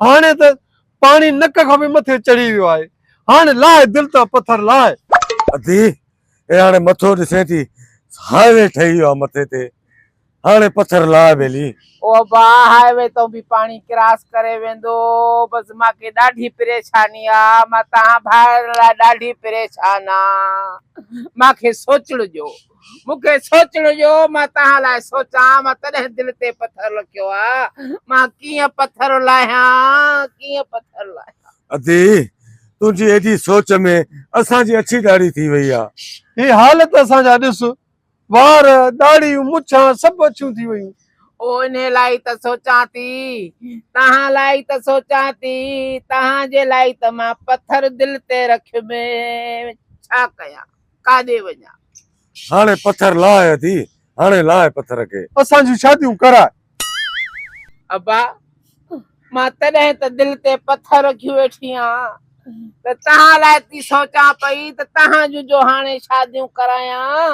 هاڻي ته پاڻي نڪ کان به مٿي چڙهي ويو آهي. هاڻي لاء دل تان پٿر لاء. ادي اي هاڻي مٿو ڏسين ٿي هاء وي ٺهي ويو آهي مٿي تي هاڻي پٿر لاء ٻيلي. او ابا هاء وي تون به پاڻي ڪراس ڪري ويندو بس مان کي ڏاڍي پريشاني آ مان تهان ڀائرن لاء ڏاڍي پريشان آ مان کي سوچڻ ڏيو. مون کي سوچڻ ڏيو مان توهان لاء سوچان مان تڏهن دل تي پٿر لکيو آ مان ڪيئن پٿر لاهيان ڪيئن پٿر لاهيان ادي تنهنجي ايڏي سوچ ۾ اسان جي اڇي ڏاڙهي ٿي وئي آ. هي حالت اسان جا ڏس وار ڏاڙهيون مڇان سڀ اڇيون ٿي ويون. او انهي لاء ئي ته سوچان ٿي توهان لاء ئي ته سوچان ٿي توهان جي لاء ئي ته مان پٿر دل تي رکيو ۾ ڇا ڪيان. ڪاڏي وڃان. هاڻي پٿر لاء اٿي. هاڻي لاء پٿر کي. اسان جون شاديون ڪراء. ابا مان تڏهن ته دل تي پٿر رکي ويٺي آهيان ته توهان لاء ٿي سوچان پئي ته توهان جون جو هاڻي شاديون ڪرايان.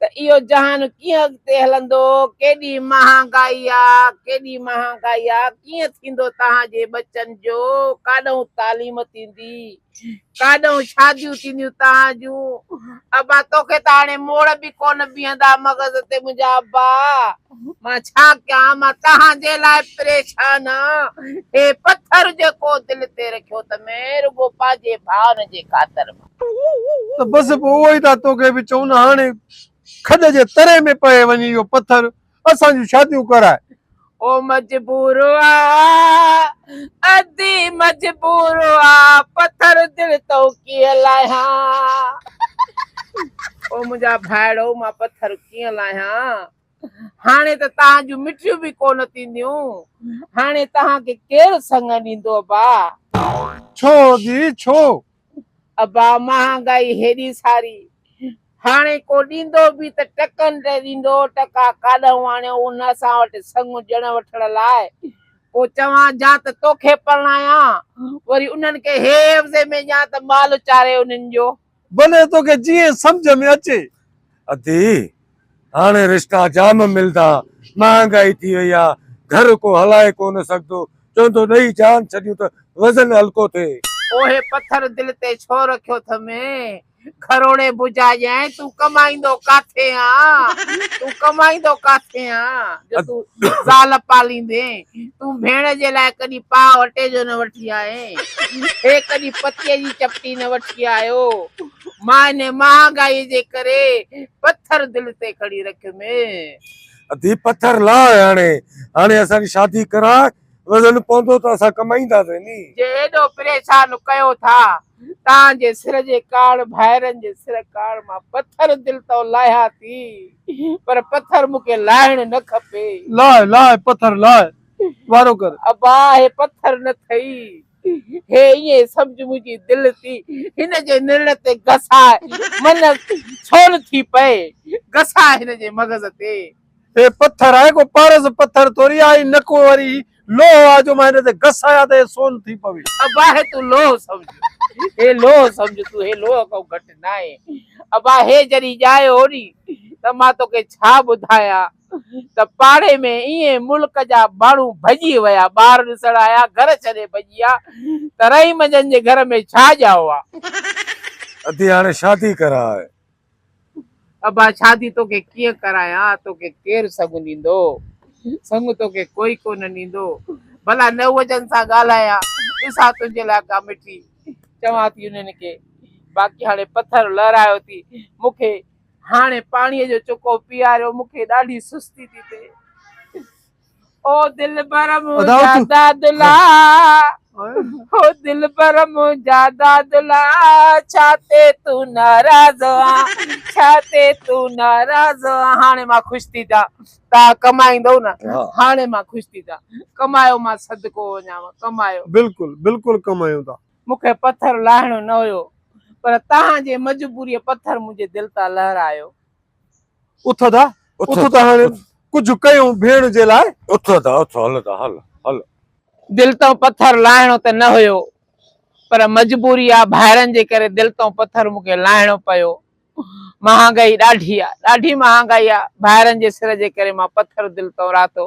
ته اهو جهان ڪيئن اڳتي هلندو، ڪيڏي مهانگائي آ، ڪيڏي مهانگائي آ، ڪيئن ٿيندو تهان جي ٻچن جو، ڪاڏهون تعليم ٿيندي، ڪاڏهون شاديون ٿينديون تهان جون، ابا توکي ته هاڻي موڙ به ڪونه بيهندا مغز تي منهنجا ابا، مان ڇا ڪيان، مان تهان جي لاء پريشان آ، هي پٿر جيڪو دل تي رکيو ته مين رڳو پنهنجي ڀائن جي خاطر مان. ته بس پوء اهو ئي ٿا توکي به چون نه هاڻي کڏ جي تري ۾ پئي وڃي اهو پٿر اسان جون شاديون ڪرائي. او مجبور آ ادي مجبور آ پٿر دل تون ڪيئن لاهيان او منهنجا ڀائڙو مان پٿر ڪيئن لاهيان هاڻي ته تهان جون مٺيون به ڪونه ٿينديون هاڻي تهان کي ڪير سڱ ڏيندو ابا. ڇو ادي ڇو ابا مهانگائي هيڏي ساري، هاڻي ڪو ڏيندو به ته ٽڪن تي ڏيندو، ٽڪا ڪاڏهون آڻيو ان اسان وٽ سڱ ڄڻ وٺڻ لاء، پوء چوان جا ته توکي پرڻايان، وري انهن کي هي عيوضي ۾ ڏيان ته مال چاري انهن جو. ڀلي توکي جيئن سمجهه ۾ اچي. ادي! هاڻي رشتا جام ملدا، مهانگائي ٿي وئي آ، گهر ڪو هلائي ڪونه سگهندو، چوندو ڏئي جان ڇڏيون ته وزن هلڪو ٿئي. اوهي پٿر دل تي ڇو رکيو ٿم، گهروڙي بجا ڄائين، تون ڪمائيندو ڪاٿي آن، تون ڪمائيندو ڪاٿي آن، جو تون زال پاليندين، تون ڀيڻ جي لاء ڪڏهن پاء اٽي جو نه وٺي آئين، هي ڪڏهن پتيء جي چپٽي نه وٺي آيو. مان انهيء مهانگائيء جي ڪري پٿر دل تي کڻي رکيم. اڌي پٿر لاء هاڻي. هاڻي اسان جي شادي ڪراء. وزن پوندو ته اسان ڪمائينداسين ني. جي ايڏو پريشان ڪيو ٿا. تان جي سر جي ڪاڻ ڀائرن جي سر ڪاڻ مان پٿر دل تو لاهيان ٿي. پر پٿر مون کي لاهڻ نه کپي. لاء لاء پٿر لاء. وارو ڪر. ابا هي پٿر نه ٿئي. هي ائين سمجهه منهنجي دل ٿي هن جي نرڙ تي گساء من ڇول ٿي پئي گساء هن جي مغز تي. هي پٿر آهي ڪو پارس پٿر ٿوري آهي نه ڪو وري هي لوهه آهي جو مان هن تي گسايان ته هي سون ٿي پوي. ابا هي تون لوهه سمجهه هي لوهه سمجهه تون هي لوهه کان گهٽ ناهي ابا هي جڏهن ڄائي هو ني ته مان توکي ڇا ٻڌايان. ته پاڙي ۾ ايئن ملڪ جا ماڻهو ڀڄي ويا، ٻار ڏسڻ آيا گهر ڇڏي ڀڄي آ ته رحيم جن جي گهر ۾ ڇا ڄائو آ. ادي هاڻي شادي ڪراء. ابا شادي توکي ڪيئن ڪرايان توکي ڪير سڱ ڏيندو سڱ توکي ڪوئي ڪونه ڏيندو ڀلا نوح جن سان ڳالهايان ڏسان تنهنجي لاء ڪا مٺي چوان ٿي انهن کي باقي هاڻي پٿر لهرايو ٿي مونکي هاڻي پاڻيء جو چڪو پياريو، مون کي ڏاڍي سستي ٿي ٿئي. او دلبر منهنجا دادلا، او دلبر منهنجا دادلا، ڇا تي تون ناراض آن، ڇا تي تون ناراض آن. هاڻي مان خوش ٿي ٿيان، توهان ڪمائيندؤ نه، هاڻي مان خوش ٿي ٿيان. ڪمايو مان صدقو وڃانء، ڪمايو. بلڪل، بلڪل ڪمايون ٿا. مون کي پٿر لاهڻو نه هيو پر تهان جي مجبوريء پٿر منهنجي دل تان لهرايو. اٿ ادا اٿ ته هاڻي ڪجهه ڪيون ڀيڻ جي لاء. اٿ ادا اٿ هل ادا هل هل. دل تان پٿر لاهڻو ته نه هيو پر مجبوري آ ڀائرن جي ڪري دل تان پٿر مون کي لاهڻو پيو. مهانگائي ڏاڍي آ ڏاڍي مهانگائي آ ڀائرن جي سر جي ڪري مان پٿر دل تان راٿو.